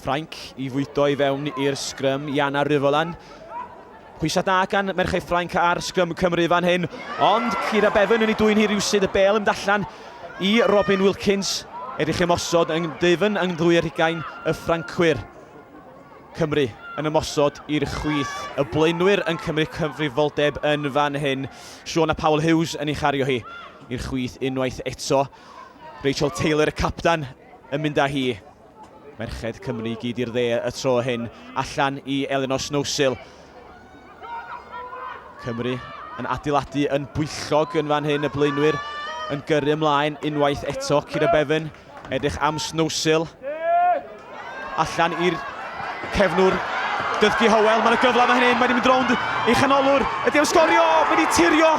Ffrainc i fwydo i fewn i'r sgrym, Iana Ryvolan. Pwysa da gan merchau Ffrainc ar sgrym Cymru fan hyn, ond Kira Bevan yn ei dwy'n hi rywsyd y bel yn dallan i Robin Wilkins er i chi ymosod yn dyfn yng nghlwy'r hugain y Ffrancwyr. Cymru yn ymosod i'r chwith. Y blaenwyr yn cymryd cyfrifoldeb yn fan hyn. Siôn a Paul Hughes yn ei chario hi i'r chwith unwaith eto. Rachel Taylor y capten yn mynd â hi. Merched Cymru i gyd i'r dde y tro hyn, allan i Elinor Snowsill. Cymru yn adeiladu yn bwyllog yn fan hyn, y blaenwyr yn gyrru ymlaen unwaith eto. Cira Bevan, edrych am Snowsill. Allan i'r cefnwr, Dyfki Howell, mae'n y gyfle fan hyn, mae wedi mynd rownd i chanolwr, ydy am sgorio, mae wedi tirio!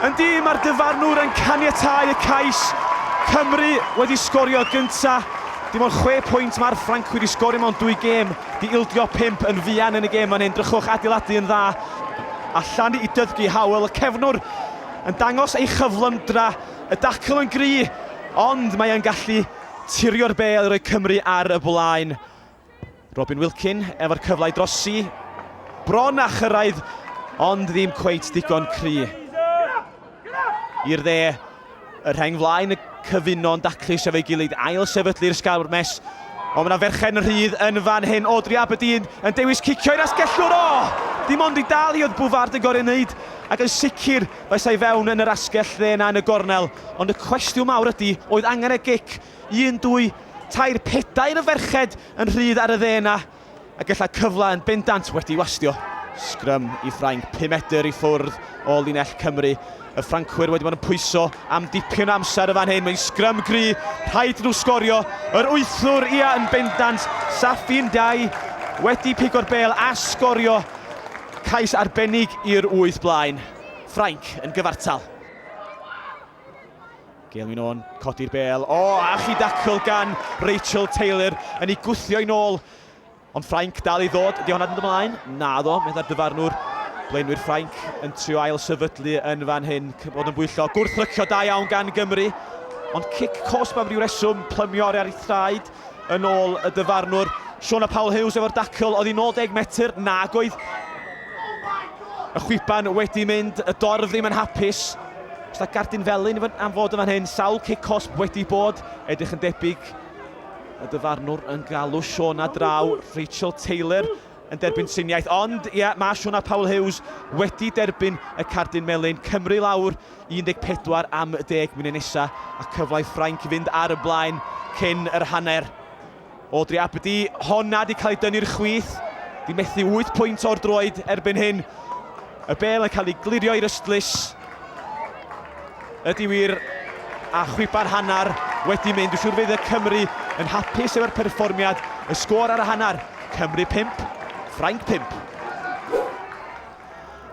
Yn di, mae'r dyfarnwr yn caniatau y cais. Cymru wedi sgorio gynta. Dim ond 6 pwynt mae'r Ffrancwyr wedi sgorio mewn dwy gêm, di ildio 5 yn fuan yn y gêm fan hyn, drychwch adeiladu yn dda. Allan i Dyfki Howell, y cefnwr yn dangos ei chyflymdra, y dacl yn gry, ond mae yn gallu Tirio'r bel i roi Cymru ar y blaen. Robin Wilkin efo'r cyfle i drosi. Bron a chyrraedd, ond ddim cweit digon cry. I'r dde, y rheng flaen y cyfuno'n daclus efo'i gilydd ail sefydlu'r sgawr mes. Ond mae yna ferched yn rhydd yn fan hyn. Audrey Aberdeen yn dewis cicio i'r asgellwr. O! Dim ond i dal hi oedd Bwfard yn gorau wneud ac yn sicr Daeth e i fewn yn yr asgell dde 'na yn y gornel, ond y cwestiwn mawr ydi, oedd angen y gic? Un, dwy, tair, pedair o ferched yn rhydd ar y dde 'na, a gella cyfle yn bendant wedi wastio. Sgrym i Ffrainc, pum medr i ffwrdd o linell Cymru. Y Ffrancwyr wedi bod yn pwyso am dipyn o amser yn fan hyn. Mae'n sgrym gry, rhaid i nhw sgorio. Yr wythwr, ia, yn bendant. Safin Dai wedi pigo'r bel a sgorio. Cais arbennig i'r wyth blaen. Ffrainc yn gyfartal. Gael mi'n o'n codi'r bel. O, oh, a chi dacl gan Rachel Taylor yn ei gwthio i'n ôl. Ond Ffrainc dal i ddod. Ydy hwnna'n mynd ymlaen? Na ddo, meddai'r dyfarnwr. Blaenwyr Ffrainc yn trio ail sefydlu yn fan hyn. Bod yn bwyllo. Gwrthrycio da iawn gan Gymru. Ond cic cosb am ryw reswm plymio ar ei thraed. yn ôl y dyfarnwr. Siona Paul Hughes efo'r dacl oedd i 90 metr, nag oedd y chwiban wedi mynd, y dorf ddim yn hapus. Os da gardyn felyn am fod yn fan hyn, sawl cic cosb wedi bod, edrych yn debyg y dyfarnwr yn galw Siona draw, Rachel Taylor. yn derbyn triniaeth ond ie mae Siôn a Paul Hughes wedi derbyn y cardyn melyn, Cymru lawr i 14 am y deg munud nesa a cyfle i Ffrainc fynd ar y blaen cyn yr hanner. Audrey Abdi, honna di cael ei dynnu'r chwith, di methu 8 pwynt o'r droed erbyn hyn. Y bel yn cael ei glirio i'r ystlys. Ydy wir, a chwipa'r hanner wedi mynd. Dwi'n siŵr fydd y Cymry yn hapus efo'r perfformiad. Y sgôr ar y hanner, Cymru 5, Ffrainc 5.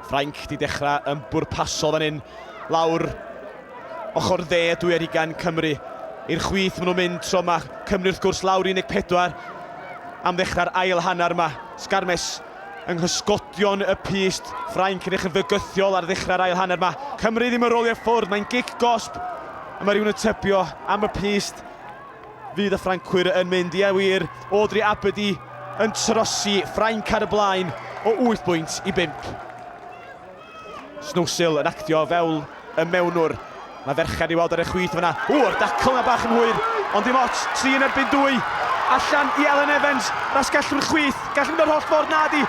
Ffrainc di dechrau yn bwrpasol fan hyn. Lawr ochr dde dwy ar ugain Cymru. I'r chwith maen nhw'n mynd tro yma. Cymru wrth gwrs lawr 14 am ddechrau'r ail hanner yma. Sgarmes yng nghysgodion y pyst. Ffrainc yn edrych yn fygythiol ar ddechrau'r ail hanner. Mae Cymru ddim yn rolio ffwrdd, mae'n gic gosb. A mae rhywun yn tybio am y pyst. Fydd y Ffrancwyr yn mynd? Ie wir, Audrey Abedi yn trosi Ffrainc ar y blaen o 8 bwynt i 5. Snowsill yn actio fel y mewnwr. Mae ferched i weld ar y chwith fyna. Ww, yr dacl yna bach yn hwyr, ond dim ots, tri yn erbyn dwy. Allan i Elen Evans, rasgellwr chwith, gall mynd o'r holl ffordd nadi.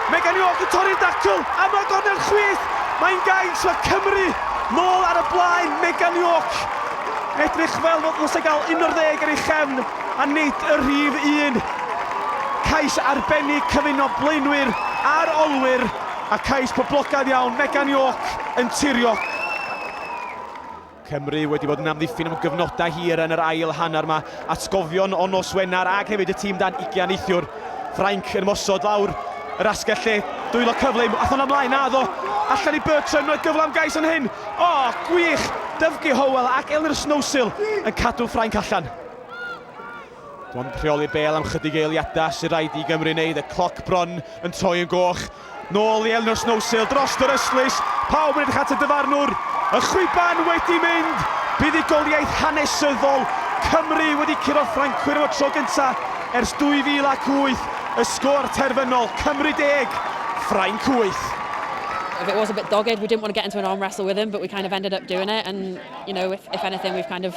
Megan York yn torri'r dacl, a mae gornel chwith, mae'n gaint, mae Cymru nôl ar y blaen, Megan York. Edrych fel fod nhw'n gael un o'r ddeg ar ei chefn, a nid y rhif un. Cais arbennig cyfuno blaenwyr a'r olwyr. A cais poblogaidd iawn, Megan York yn tirio. Cymru wedi bod yn amddiffyn am gyfnodau hir yn yr ail hanner yma. Atgofion o nos Wener ac hefyd y tîm dan ugian neithiwr. Ffrainc yn ymosod lawr yr asgell lle. Dwylo cyflym, athon ymlaen, na ddo. Allan i Bertrand, mae gyfle am gais yn hyn. O, gwych! Dyfge Howell ac Elunor Snowsill yn cadw Ffrainc allan. Bron yn rheoli bel am chydig eiliadau sy'n rhaid i Gymru wneud, y cloc bron yn troi yn goch. Nôl i Elno Snowsill dros yr ystlys, pawb yn edrych at y dyfarnwr, y chwiban wedi mynd, buddugoliaeth hanesyddol, Cymru wedi curo'r Ffrancwyr am y tro gyntaf ers 2008, y sgôr terfynol, Cymru deg, Ffrainc wyth. If it was a bit dogged, we didn't want to get into an arm wrestle with him, but we kind of ended up doing it, and you know, if, if anything, we've kind of